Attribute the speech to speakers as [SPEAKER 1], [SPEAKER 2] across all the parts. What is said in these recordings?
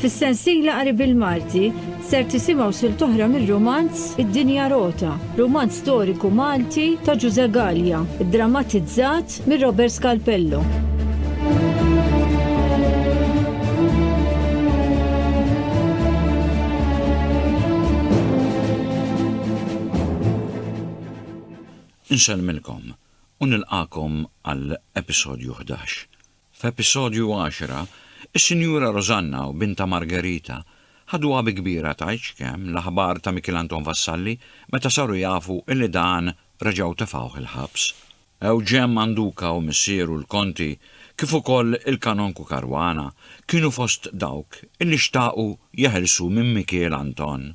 [SPEAKER 1] Fis-sensiela qari bil-Malti ser tisimgħu silt oħra mir-rumanz Id-Dinja Rota, rumanz storiku Malti ta' Ġużè Gallia, iddramatizzat minn Robert Scalpello. Nsellmilkom u nilqagħkom għal episodju ħdax. F'episodju għaxra, is-Sinjura Rosanna u bintha Margherita ħaduha bi kbira tgħid x'kemm l-aħbar ta' Mikiel Anton Vassalli meta saru jafu illi dan reġgħu tefgħuh il-ħabs. Ewġen Manduca u missieru l-Konti kif ukoll il-Kanonku Caruana kienu fost dawk illi xtaqu jeħilsu minn Mikiel Anton.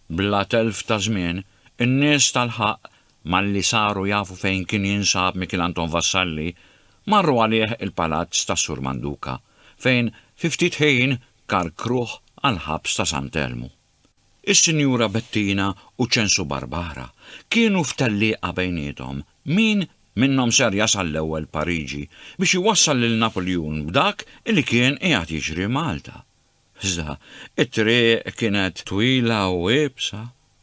[SPEAKER 1] Bla telf ta' żmien, in-nies tal-ħaqq, malli saru jafu fejn kien jinsab Mikiel Anton Vassalli, marru għalih il-palazz tas-Sur Manduca, fejn fi ftit ħin karkruh għall-ħabs ta' Sant' Elmu. Is-Sinjura Bettina u Ċensu Barbara kienu f'tellieqa bejniethom min minnhom ser jasal l-ewwel Pariġi biex iwassal lil Napuljun b'dak li kien qiegħed jiġri Malta. Iżda, it-triq kienet twila u iebsa,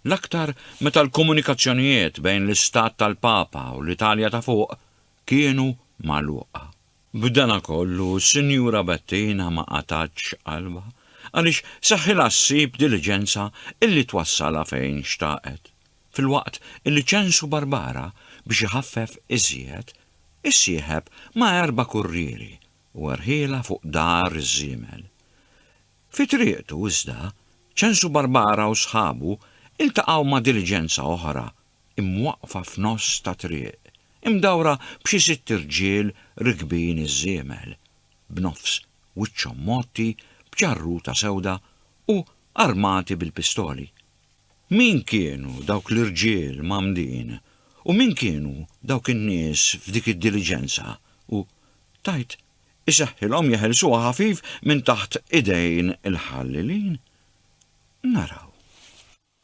[SPEAKER 1] l-aktar meta l-komunikazzjonijiet bejn l-Istat tal-Papa u l-Italja ta' Fuq kienu magħluqa. B'dana kollu, s-Sinjura Bettina ma qatgħatx qalbha, għaliex seħħilha ssib diliġenza illi twassalha fejn xtaqet, filwaqt illi ċensu Barbara biex iħaffef iżjed, issieħeb ma' erba' kurrieri u rħielha fuq dar iż-żiemel. Fi triqtu, iżda, Ċensu Barbara u sħabu ltaqgħu ma' diliġenza oħra imwaqqfa f'nofs ta' triq, imdawra b'xi sitt irġiel rikbin iż-żiemel, b'nofs wiċċhom mgħotti b'ġarruta sewda u armati bil-pistoli. Min kienu dawk l-irġiel mgħammdin u min kienu dawk in-nies f'dik id-diliġenza u Tgħid, Isahhilhom jeħilsuha ħafif minn taħt idejn il-ħallilin. Naraw.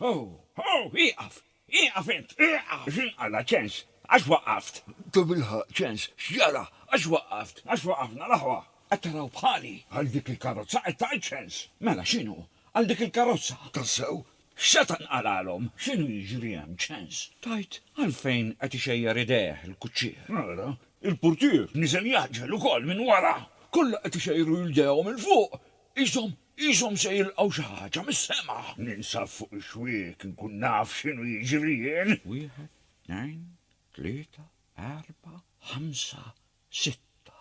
[SPEAKER 1] Ho! Ho! Ieqaf! Ieqaf int! Ieqaf! X'inqala', ċens? Għax waqqaft? Tabilħaqq, ċens, x'ġara? Għax waqqaft? Għax waqafna l-aħwa! Qed taraw bħali? Għal dik il-karozza qed tgħid, ċens? Mela x'inhu? Għal dik il-karozza, tassew, x'seta' nqalgħalhom? X'inhu jiġri hemm, ċens? Tgħid għalfejn qed ixejjer idejh il-kuċċier? Ara, il-purtier niżel jgħaġġel ukoll minn wara! Kollha qed ixejjru jdejhom 'il fuq, qishom, qishom se jilqgħu xi ħaġa mis-sema! Ninsab fuq ix-xwiek inkun naf x'inhu jiġri jien! Wieħed, tnejn, tlieta, erbgħa, ħamsa, sitta.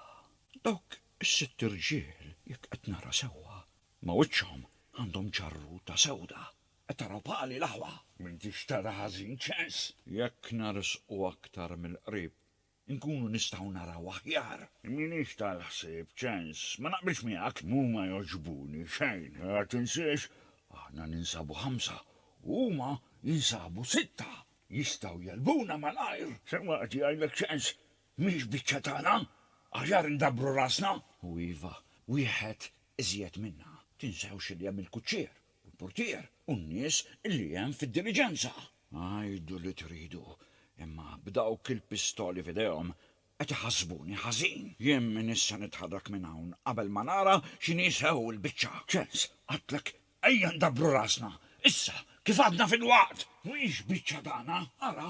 [SPEAKER 1] Dawk is-sitt irġiel, jekk qed nara sewwa, Ma' wiċċhom għandhom ġarruta sewda. Qed taraw pali l-aħwa? M'intix tara ħażin ċens. Jekk narsqu aktar mill-qrib, inkunu nistgħu naraw aħjar. M'iniex tal-ħsieb ċens. Ma naqbilx miegħek. Huma jogħġbuni xejn. Ma tinsiex, aħna ninsabu ħamsa u huma jinsabu sitta. Jistgħu jegħlbuna malajr. Sewwa qed jgħidlek ċens. Mhix biċċa tagħna. Aħjar indabbru rasna. U iva, wieħed Iżjed minnha, tinsewx li hemm il-kuċċier, u l-purtier, u n-nies li hemm fid-diliġenza. Għidu li tridu, imma b'dawk il-pistoli f'idejhom qed iħassbuni ħażin. Jien minn issa nitħarrak minn hawn qabel ma nara x'inhi sew il-biċċa. Ċens, għidtlek ejja ndabbru rasna, issa, kif għadna filwaqt! Mhix biċċa tagħna, ara,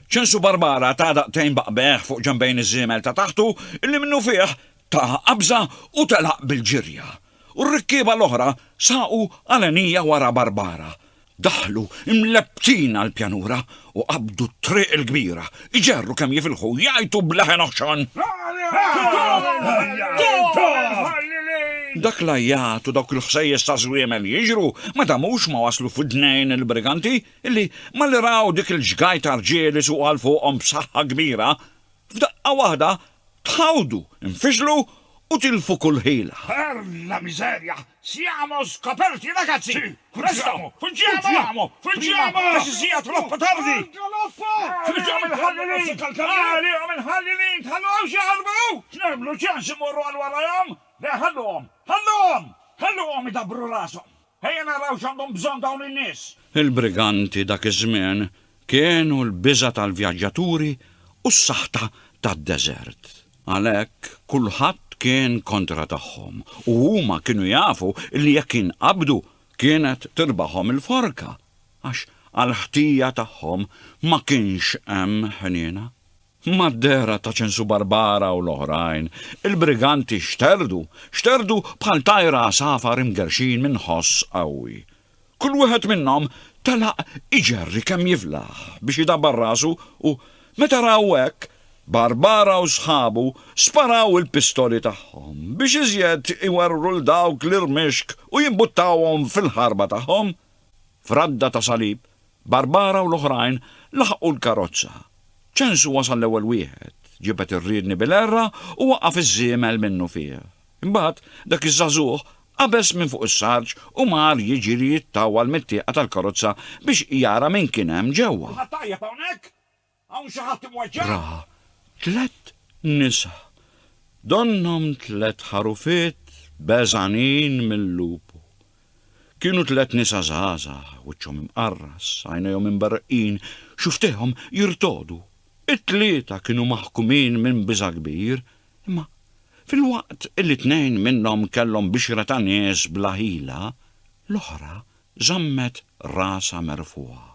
[SPEAKER 1] Ċinsu Barbara ta daqtejn b'qbegħ fuq ġenbejn iż-żiemel ta' taħtu illi minnufih ta qabża u telaq bil-ġirja. U r-rikkieba l-oħra saqu għalenija wara Barbara. Daħlu mlepptin għall-pjanura u qabdu t-triq il-kbira, iġerru kemm jifilħu u jgħajtu b'leħen oħxon. Dak l-għajjat u dawk il-ħsejjes taż-żwiemel jiġru ma damux ma waslu f'widnejn il-briganti illi malli raw dik il-ġgajt ta' rġiel isuqu għal fuqhom b'saħħa kbira, f'daqqa waħda tħawdu, infixlu u tilfu kull ħila. Per la miseria! Siamo scoperti, ragazzi! Presto! Fuggiamo! Fuggiamo! Għax issija troppo tardi! Fuggiamo mill-ħallilin! Għalihom il-ħallilin! Tħalluhomx jaħarbu! X'nagħmlu? Ċans immorru għal warajhom? Le, ħalluhom! Ħalluhom! Ħalluhom idabbru rashom! Ejja naraw x'għandhom bżonn dawn in-nies! Il-briganti dak iż-żmien kienu l-biża' tal-vjaġġaturi u s-saħta tad-deżert. Għalhekk kulħadd kien kontra tagħhom u huma kienu jafu li jekk jinqabdu kienet tirbahom il-forka għax għall-ħtija tagħhom ma kienx hemm ħniena. Mad-dehra ta' Ċensu Barbara u l-oħrajn, il-briganti xterdu, xterdu bħal tajra għasafar imgerrxin minn ħoss qawwi. Kull wieħed minnhom telaq iġerri kemm jiflaħ biex idabbar rasu u, meta raw hekk, Barbara u sħabu sparaw il-pistoli tagħhom biex iżjed iwerwru 'l dawk l-irmixk u jimbuttawhom fil-ħarba tagħhom. F'radda ta' salib, Barbara u l-oħrajn laħqu l-karozza. Ċensu wasal l-ewwel wieħed, ġibed ir-riedni bil-għerra u waqaf iż-żiemel minnufih. Imbagħad, dak iż-żagħżugħ qabeż minn fuq is-sarġ u mar jiġri jittawwal mit-tieqa tal-karozza biex jara min kien hemm ġewwa. Kulħadd tajjeb hawnhekk? Hawn xi ħadd imweġġa'? Ra tliet nisa, donnhom tliet ħarufiet beżgħanin mil-lupu. Kienu tliet nisa żgħażagħ, wiċċhom imqarras, għajnejhom imberreqqin, xufftejhom jirtogħdu. It-tlieta kienu maħkumin minn biża' kbir, imma filwaqt li tnejn minnhom kellhom bixra ta' nies bla ħila, l-oħra żammet rasha merfugħa.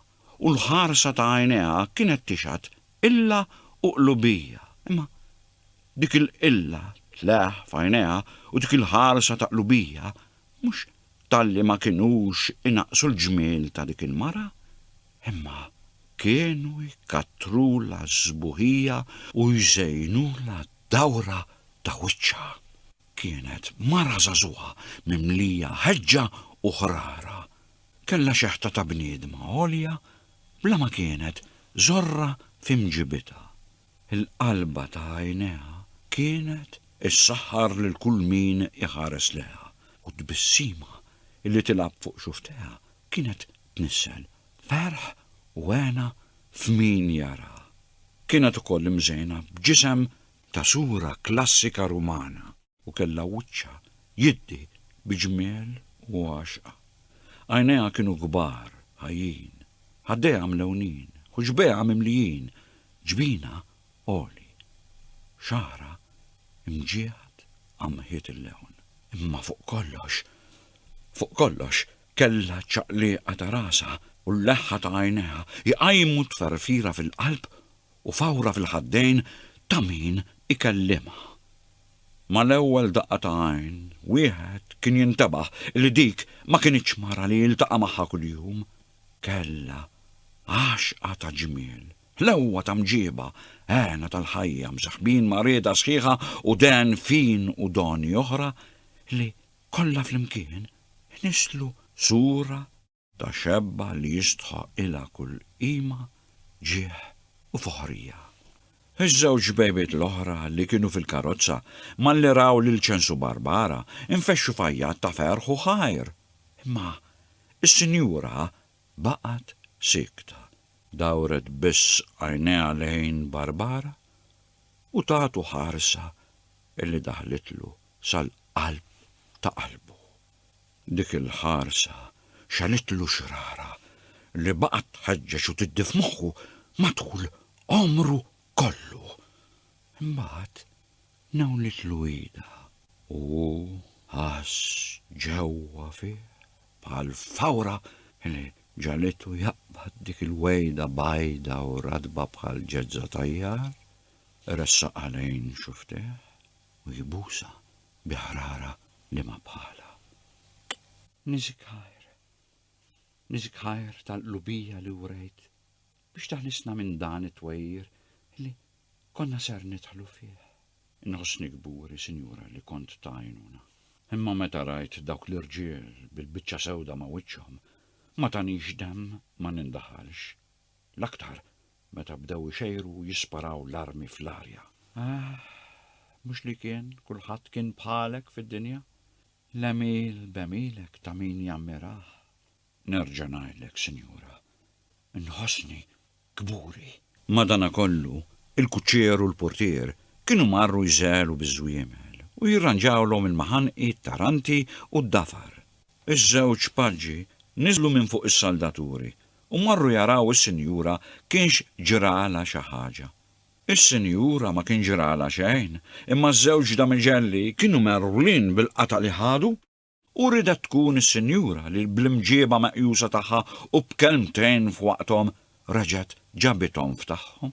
[SPEAKER 1] u l-ħarsa ta' għajnejha kienet tixhad qilla u qlubija, imma dik il-qilla tleħħ f'għajnejha u dik il-ħarsa ta' qlubija mhux talli ma kinux inaqqsu l-ġmiel ta' dik il-mara, imma kienu jkattrulha s-sbuħija u jżejnulha d-dawra ta' wiċċha. Kienet mara żagħżugħa mimlija ħeġġa u ħrara. Kellha xeħta ta' bniedma għolja bla ma kienet żorra fi mġibitha. Il-qalba ta' għajnejha kienet issaħħar lil kull min iħares lejha u t-tbissima li tilgħab fuq xufftejha kienet tnissel ferħ u hena f'min jaraha. Kienet ukoll imżejna b'ġisem ta' sura klassika Rumana. u kellha wiċċha jiddi bi ġmiel u għaxqa. Għajnejha kienu kbar, ħajjin, ħaddejha mlewnin, ħuġbejha mimlijin, ġbinha għoli, xagħarha imġieħed qamħiet il-lewn. Imma fuq kollox, fuq kollox, kellha ċ-ċaqlieqa ta' rasha u l-leħħa ta' għajnejha jqajmu tferfira fil-qalb u fawra fil-ħaddejn ta' min ikellimha. Mal-ewwel daqqa ta' għajn, wieħed kien jintebaħ li dik ma kinitx mara li jiltaqa' magħha kuljum. Kellha għaxqa ta' ġmiel, ħlewwa ta' mġiba, hena tal-ħajja msaħbin ma' rieda sħiħa u dehen fin u doni oħra li, kollha flimkien, inisslu sura Ta' xebba li jistħoqq ilha kull qima, ġieħ u foħrija. Iż-żewġ bejbiet l-oħra li kienu fil-karozza, malli raw lil Ċensu Barbara, infexxu f'għajjat ta' ferħ u ħajr. Imma s-sinjura baqgħet siekta. Dawret biss għajnejha lejn Barbara u tagħtu ħarsa li daħlitlu sal-qalb ta' qalbu. Dik il-ħarsa xagħlitlu xrara li baqgħet tħeġġeġ u tiddi f'moħħu matul għomru kollu. Imbagħad nawlitlu idha u hu ħass ġewwa fih bħal fawra li ġalitu jaqbad dik il-wegħda bajda u ratba bħal ġeżża tajjar, ressaqha lejn xufftejh u jbusha bi ħrara li ma bħalha. Nizik ħajr. Nizik ħajr tal-qlubija li wrejt biex taħlisna minn dan it-twejjir li konna ser nidħlu fih. Inħossni kburi, Sinjura, li kont tajnuna. Imma meta rajt dawk l-irġiel bil-biċċa sewda ma' wiċċhom, ma tanix demm ma nindaħalx. L-aktar meta bdew ixejru u jisparaw l-armi fl-arja. Ahh, mhux li kien kulħadd kien bħalek fid-dinja? L-għemil b'għemilek ta' min jammirah. Nerġa' ngħidlek, sinjura, nħossni kburi. Madanakollu, il-kuċċier u l-purtier kienu marru jżegħlu biż-żwiemel u jirranġawlhom il-maħanqi, t-taranti u d-dafar. Iż-żewġ paġi niżlu minn fuq is-saldaturi u marru jaraw is-sinjura kienx ġralha xi ħaġa. Is-sinjura ma kien ġralha xejn, imma ż-żewġ damiġelli kienu megħrulin bil-qatgħa li ħadu u riedet tkun is-sinjura li bl-imġieba meqjusa tagħha u b'kelmtejn f'waqthom reġgħet ġabithom f'tagħhom.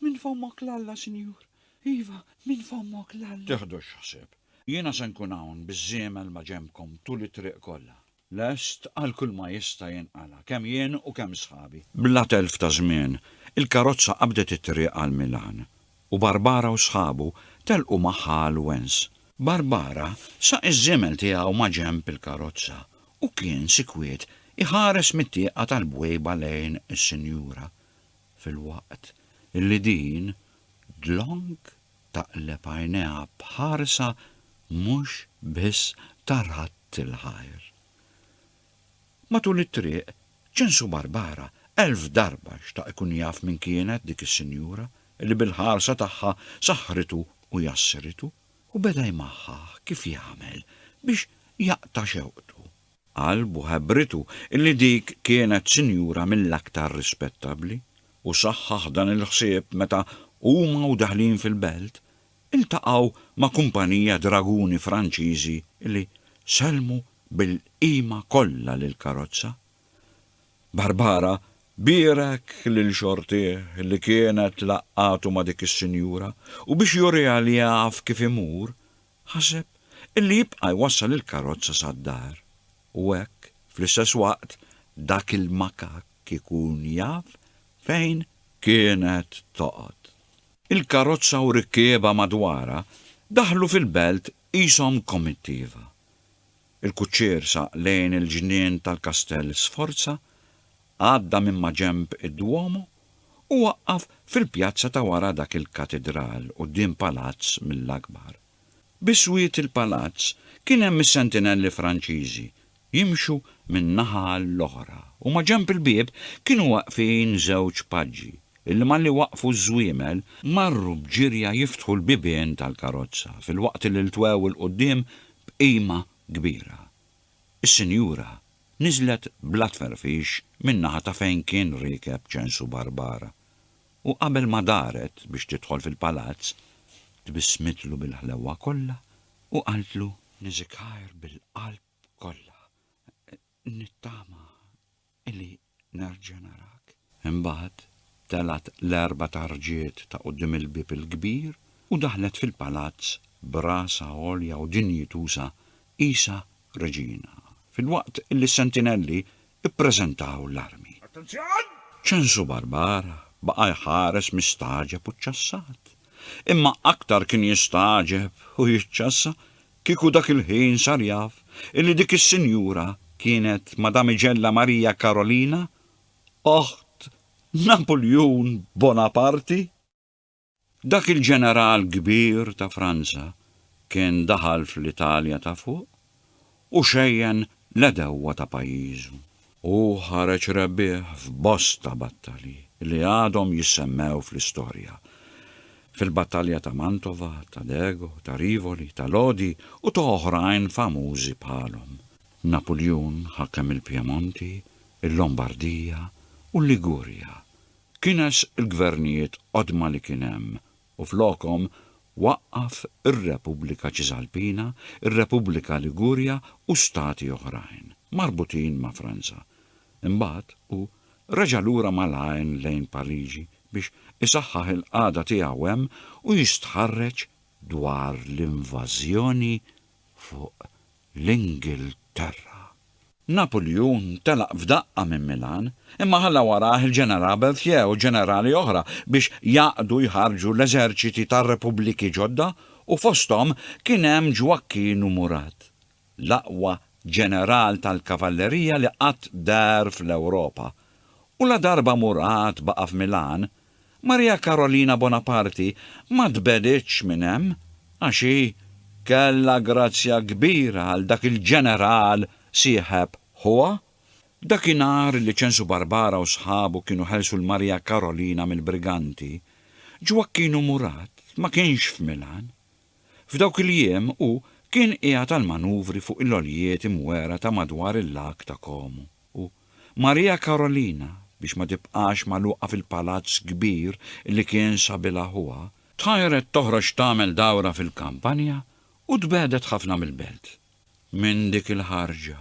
[SPEAKER 1] Minn fommok 'l Alla, Sinjur. Iva, minn fommok 'l Alla. Tiħdux ħsieb. Jiena se nkun hawn biż-żiemel ma' ġenbkom tul it-triq kollha, lest għal kulma jista' jinqala', kemm jien u kemm sħabi. Bla telf ta' żmien, il-karozza qabdet it-triq għal Milan, u Barbara u sħabu telqu magħha għal Wens. Barbara saq iż-żiemel tiegħu ma' ġenb il-karozza u kien sikwiet iħares mit-tieqa tal-bwejba lejn is-Sinjura. filwaqt li din dlonk taqleb għajnejha b'ħarsa mhux biss ta' radd il-ħajr. Matul it-triq, Ċensu Barbara elf darba xtaq ikun jaf min kienet dik is-sinjura li bil-ħarsa tagħha saħħritu u jassritu, u beda jmaħħah kif jagħmel biex jaqta' xewqtu Qal b'ħebritu li dik kienet sinjura mill-aktar rispettabbli u saħħaħ dan il-ħsieb meta huma u daħlin fil-belt iltaqgħu ma' kumpanija draguni Franċiżi li sellmu bil-qima kollha lill-karozza. Barbara bierek lil xortih li kienet laqqgħatu ma' dik is-sinjura u biex juriha li jaf kif imur Ħaseb illi jibqa' jwassal il-karozza sad-dar u hekk, fl-istess waqt, dak il-makakk ikun jaf fejn kienet toqgħod. Il-karozza u rikkiebha madwarha daħlu fil-belt qishom komittiva. Il-kuċċier saq lejn il-ġnien tal-kastell Sforza Għadda minn maġenb id-Duomo u waqqaf fil-pjazza ta' wara dak il-katidral quddiem palazz mill-akbar. Bi swied il-palazz kien hemm is-sentinelli Franċiżi jimxu minn naħa għall-oħra u maġenb il-bieb kienu waqfin żewġ paġi illi malli waqqfu ż-żwiemel marru b'ġirja jiftħu l-bibien tal-karozza filwaqt li ltwew 'il quddiem b'qima kbira. Is-sinjura niżlet bla tferfix min-naħa ta' fejn kien riekeb Ċensu Barbara u qabel ma daret biex tidħol fil-palazz, tbissmitlu bil-ħlewwa kollha u qaltlu. Niżikgħir bil-qalb kollha. Nittama illi nerġa' narak. Imbagħad telgħet l-erba' tarġiet ta' quddiem il-bieb il-kbir u daħlet fil-palazz b'rasha għolja u dinjituża qisha reġina, filwaqt li s-sentinelli ppreżentaw l-armi. Attenzjon! Ċensu Barbar baqa' jħares mistagħġeb u ċċassat. Imma aktar kien jistagħġeb u jiċċassa Kieku dak il-ħin sar jaf illi dik is-sinjura kienet Madamigella Maria Karolina, oħt Napuljun Bonaparti! Dak il-ġeneral kbir ta' Franza kien daħal fl-Italja ta' Fuq u xejjen l-għedewwa ta' pajjiżu. Hu ħareġ rebbieħ f'bosta battalji li għadhom jissemmew fl-istorja. Fil-battalja ta' Mantova, ta' Dego, ta' Rivoli, ta' Lodi u ta' oħrajn famużi bħalhom. Napuljun ħakem il-Pjemonti, il-Lombardija u l-Ligurja. Kines il-gvernijiet qodma li kien hemm u flokhom waqqaf ir-Repubblika Ċisalpina, ir-Repubblika Ligurja u stati oħrajn, marbutin ma' Franza. Imbagħad hu reġa' lura malajn lejn Pariġi biex isaħħaħ il-qagħda tiegħu hemm u jistħarreġ dwar l-invażjoni fuq l-Ingilterra. Napulju ntelaq f'daqqa minn Milan, imma ħalla warajh il-Ġeneral Berthier u ġenerali oħra biex jgħaqqdu jħarrġu l-eżerċiti tar-Repubbliki ġodda u fosthom kien hemm Ġwakkinu Murat, l-aqwa ġeneral tal-kavallerija li qatt dar fl-Ewropa. U ladarba Murat baqa' f'Milan, Maria Karolina Bonaparti ma tbegħditx minn hemm għax hi kellha grazzja kbira għal dak il-ġeneral sieħeb ħuha. Dakinhar li Ċensu Barbara u sħabu kienu ħelsu 'l Maria Karolina mill-briganti, Ġwakkinu Murat ma kienx f'Milan, F'dawk il-jiem hu kien qiegħed għall-manuvri fuq il-għoljiet imwegħra ta' madwar il-Lag ta' Como u Maria Carolina, biex ma tibqax magħluqa fil-palazz kbir li kien sabilha ħuha, tħajret toħroġ tagħmel dawra fil-kampanja u tbegħdet ħafna mill-belt. Minn dik il-ħarġa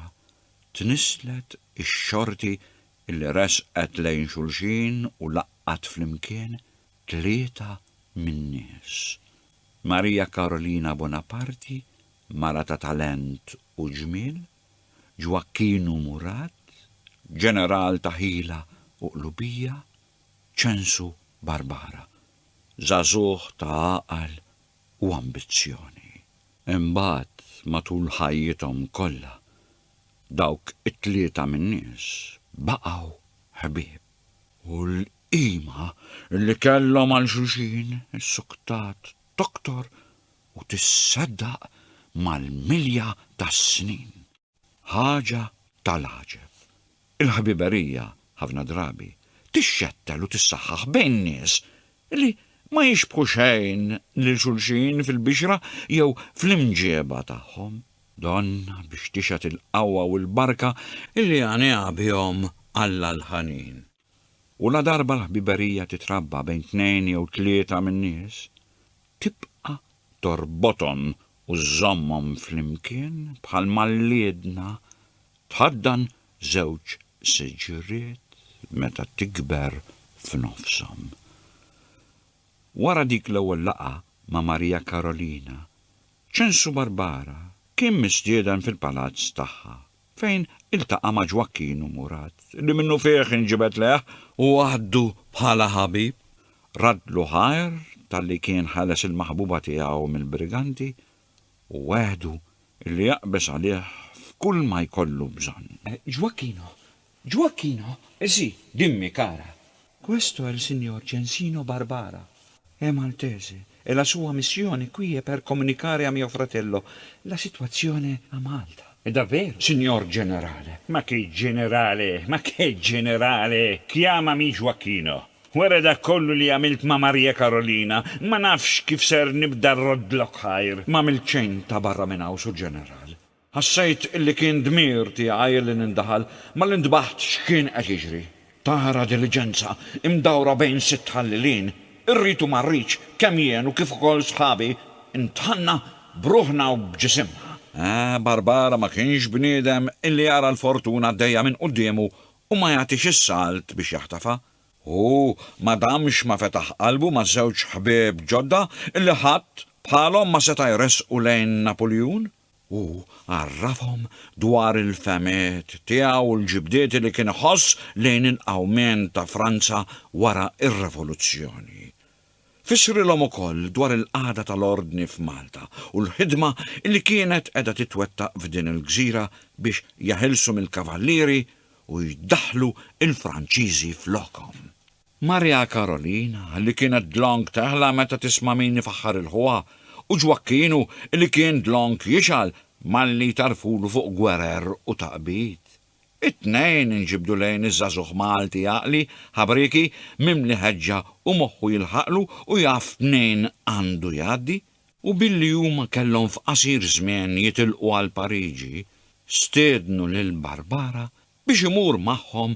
[SPEAKER 1] tnisslet ix-xorti li resqet lejn xulxin u laqqgħet flimkien tlieta min-nies. Maria Karolina Bonaparti, mara ta' talent u ġmiel, Ġwakkinu Murat, ġeneral ta' ħila u qlubija, Ċensu Barbara, żagħżugħ ta' għaqal u ambizzjoni. Imbagħad matul ħajjithom kollha, dawk it-tlieta min-nies baqgħu ħbieb. U Qima li kellhom għal xulxin issuktat toktor u tisseddaq mal-milja tas-snin. Ħaġa tal-għaġeb. Il-ħbiberija, ħafna drabi, tixxettel u tissaħħaħ bejn nies li ma jixbħu xejn lil xulxin fil-bixra jew fl-imġieba tagħhom. Donnha biex tixhed il-qawwa u l-barka li għaniha bihom Alla l-ħanin. U ladarba l-ħbiberija titrabba bejn tnejn jew tlieta min-nies, tibqa' torbothom u żżommhom flimkien bħal mal-liedna tħaddan żewġ siġriet meta tikber f'nofshom. Wara dik l-ewwel laqgħa ma' Maria Karolina, Ċensu Barbara kien mistieden fil-palazz tagħha. fejn iltaqa' ma' Ġwakkin u Murat, li minnufih inġibed lejh u għaddu bħala ħabib, raddlu ħajr talli kien ħeles il-maħbuba tiegħu mill-briganti u wegħdu li jaqbeż għalih f'kull ma jkollu bżonn. Ġwakkino! Ġwakkino! Si, dimmi, kara! Questo è il signor Gensino Barbara. È maltese e la sua missione qui è per comunicare a mio fratello la situazione a Malta. È davvero, signor Generale? Ma che Generale, ma che Generale! Chiamami Gioacchino. Wara dak kollu li għamilt ma' Maria Carolina, ma nafx kif ser nibda rroddlok ħajr. M'għamilt xejn ta' barra minn hawn, Sur Ġeneral. Ħassejt li kien dmir tiegħi li nindaħal malli ntbaħt x'kien qed jiġri. Tara diliġenza imdawra bejn sitt ħallilin, irrid u ma rridx, kemm jien u kif ukoll sħabi ntħanna b'ruħna u b'ġisimna. Ah, Barbara ma kienx bniedem illi jara l-fortuna għaddejja minn quddiemu u ma jagħtix is-salt biex jaħtafha. Hu ma damx ma fetaħ qalbu ma' żewġ ħbieb ġodda illi ħadd bħalhom ma seta' jressqu lejn Napuljun. Hu għarrafhom dwar il-fehmiet tiegħu u l-ġibdiet li kien iħoss lejn il-qawmien ta' Franza wara r-Revoluzzjoni. Fissrilhom ukoll dwar il-qagħda tal-ordni f'Malta u l-ħidma li kienet qiegħda titwettaq f'din il-gżira biex jeħilsu mill-Kavallieri u jdaħħlu l-Franċiżi flokhom. Maria Karolina, li kienet dlonk teħla meta tisma' min ifaħħar 'il ħuha, u Ġwakkinu, li kien dlonk jixgħal malli jtarrfulu fuq gwerer u taqbid. It-tnejn inġibdu lejn iż-żagħżugħ Malti għaqli, ħabrieki, mimli ħeġġa u moħħu jilħaqlu u jaf mnejn għandu jgħaddi, u billi huma kellhom f'qasir żmien jitilqu għal Pariġi, stiednu lil Barbara biex imur magħhom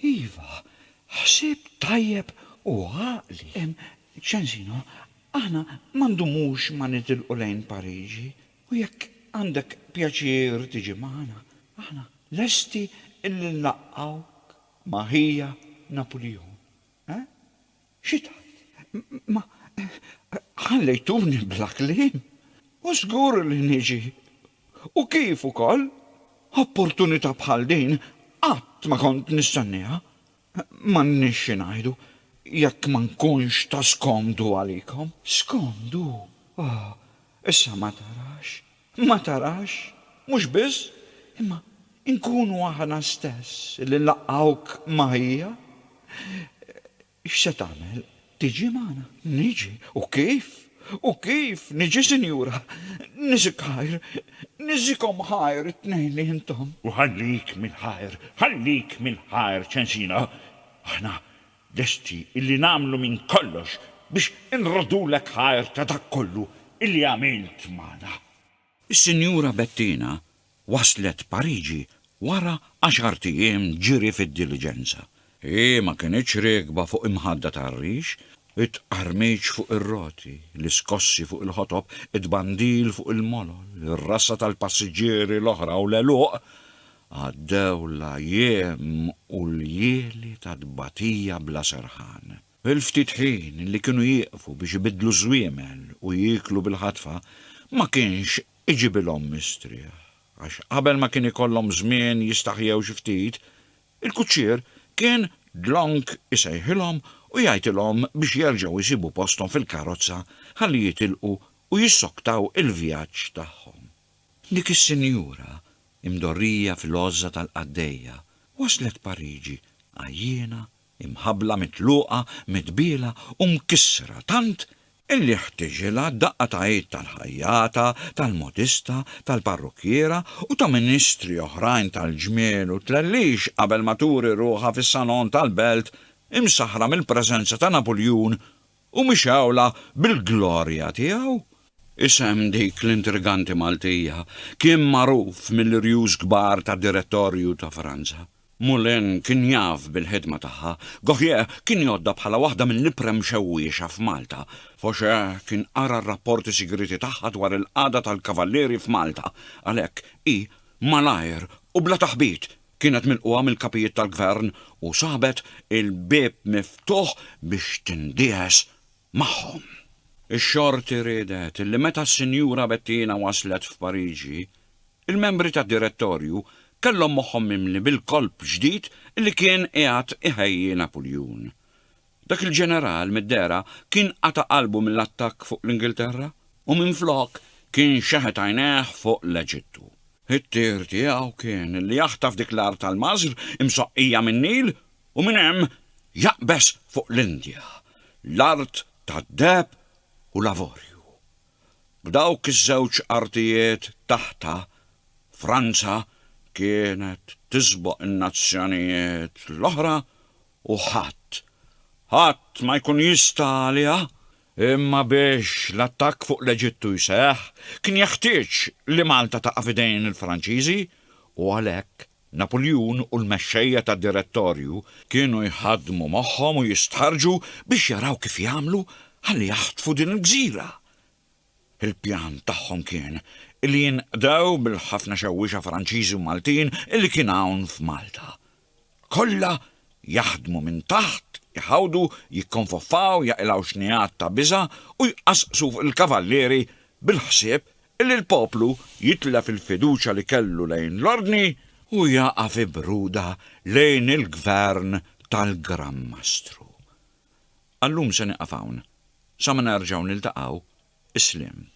[SPEAKER 1] Iva, ħsieb tajjeb u għaqli. Ċensino, aħna ma ndumux ma nitilqu lejn Pariġi u jekk għandek pjaċir tiġi magħna, aħna lesti li nlaqqgħuk ma' ħija Napulion, eh? Xi tgħid? Ma ħallejtuni bla kliem. U żgur li niġi. U kif ukoll! Opportunità bħal din qatt ma kont nistennieha. M'għandniex xi ngħidu, jekk ma nkunx ta' skomdu għalikom. Skomdu? Oh, issa ma tarax. Ma tarax, mhux biss, imma nkunu aħna stess li nlaqqgħuk ma' ħija? X'se tagħmel? Tiġi magħna? Niġi? U kif? U kif niġi, sinjura? Niżik ħajr, niżikhom ħajr it-tnejn li intom. U ħallik mill-ħajr, ħallik mill-ħajr, ċensina. Aħna Lesti illi nagħmlu minn kollox biex inroddulek ħajr ta' dak kollu illi għamilt magħna. Is-Sinjura Bettina waslet Pariġi wara għaxart ijiem ġiri fid-diliġenza. Hi ma kinitx riekba fuq imħadda tar-rix, it-tqarmiċ fuq ir-roti, l-iskossi fuq il-ħotob, it-tbandil fuq il-molol, ir-rassa tal-passiġġieri l-oħra u l-għeluq Għaddew l-ajiem u l-ljieli ta' tbatija bla serħan. Il-ftit ħin li kienu jieqfu biex ibiddlu żwiemel u jieklu bil-ħatfa ma kienx iġibilhom mistrieħ, għax qabel ma kien ikollhom żmien jistaħjew xi ftit, il-kuċċier kien dlonk isejħilhom u jgħidilhom biex jerġgħu jsibu posthom fil-karozza ħalli jitilqu u jissoktaw il-vjaġġ tagħhom. Dik is-sinjura, imdorrija fil-għożża tal-qaddejja, waslet Pariġi għajjiena, imħabbla mitluqa, mitbiela u mkissra tant illi ħtiġilha daqqa ta' id tal-ħajjata, tal-modista, tal-parrukkiera u ta' ministri oħrajn tal-ġmiel u tlellix qabel ma turi ruħha fis-salon tal-belt imsaħħra mill-preżenza ta' Napuljun U mixgħula bil-glorja tiegħu. Isem dik l-intriganti Maltija kien magħruf mill-irjus kbar tad-Direttorju ta' Franza. Moulin kien jaf bil-ħidma tagħha, Gautier kien jgħoddha bħala waħda mill-ibqra mxewwiexa f'Malta, Faucher kien qara r-rapporti sigrieti tagħha dwar il-qagħda tal-Kavallieri f'Malta, għalhekk hi, malajr u bla taħbit, Kienet milqugħa mill-kapijiet tal-gvern u sabet il-bieb miftuħ biex tindiegħes magħhom. Ix-Xorti riedet li meta s-Sinjura Bettina waslet f'Pariġi, il-membri tad-Direttorju kellhom moħħhom mimli bil-kolp ġdid li kien qiegħed iħejji Napuljun. Dak il-ġeneral mid-dehra kien qata' qalbu mill-attakk fuq l-Ingilterra u minflok kien xeħet għajnejh fuq l-Eġittu. It-tir tiegħu kien li jaħtaf dik l-art tal-Mażr imsoqqija min-Nil u minn hemm jaqbeż fuq l-Indja, l-art tad-deheb u l-avorju. B'dawk iż-żewġ artijiet taħtha, Franza kienet tisboq in-nazzjonijiet l-oħra u ħadd, ħadd ma jkun jista' għaliha, imma biex l-attakk fuq l-Eġittu jseħħ kien jeħtieġ li Malta taqa' f'idejn il-Franċiżi u għalhekk Napuljun u l-mexxejja tad-Direttorju kienu jħaddmu moħħhom u jistħarrġu biex jaraw kif jagħmlu ħalli jaħtfu din il-gżira Il-pjan tagħhom kien illi jinqdew bil-ħafna xewwiexa Franċiżi u Maltin illi kien hawn f'Malta. Kollha jaħdmu minn taħt, jħawdu, jikkonfoffaw, jaqilgħu xnigħat ta' biża' u jqassqsu fuq il-kavallieri bil-ħsieb illi l-poplu jitlef il-fiduċja li kellu lejn l-Ordni u jaqa' fi bruda lejn il-Gvern tal-Gran Mastru. Għal-lum se nieqaf hawn. Sa ma nerġgħu niltaqgħu, is-sliem.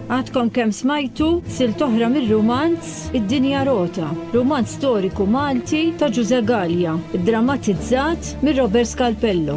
[SPEAKER 1] Għadkom kemm smajtu silt oħra mir-rumanz Id-Dinja Rota, rumanz storiku Malti ta' Ġużè Galea, iddramatizzat Minn Robert Scalpello.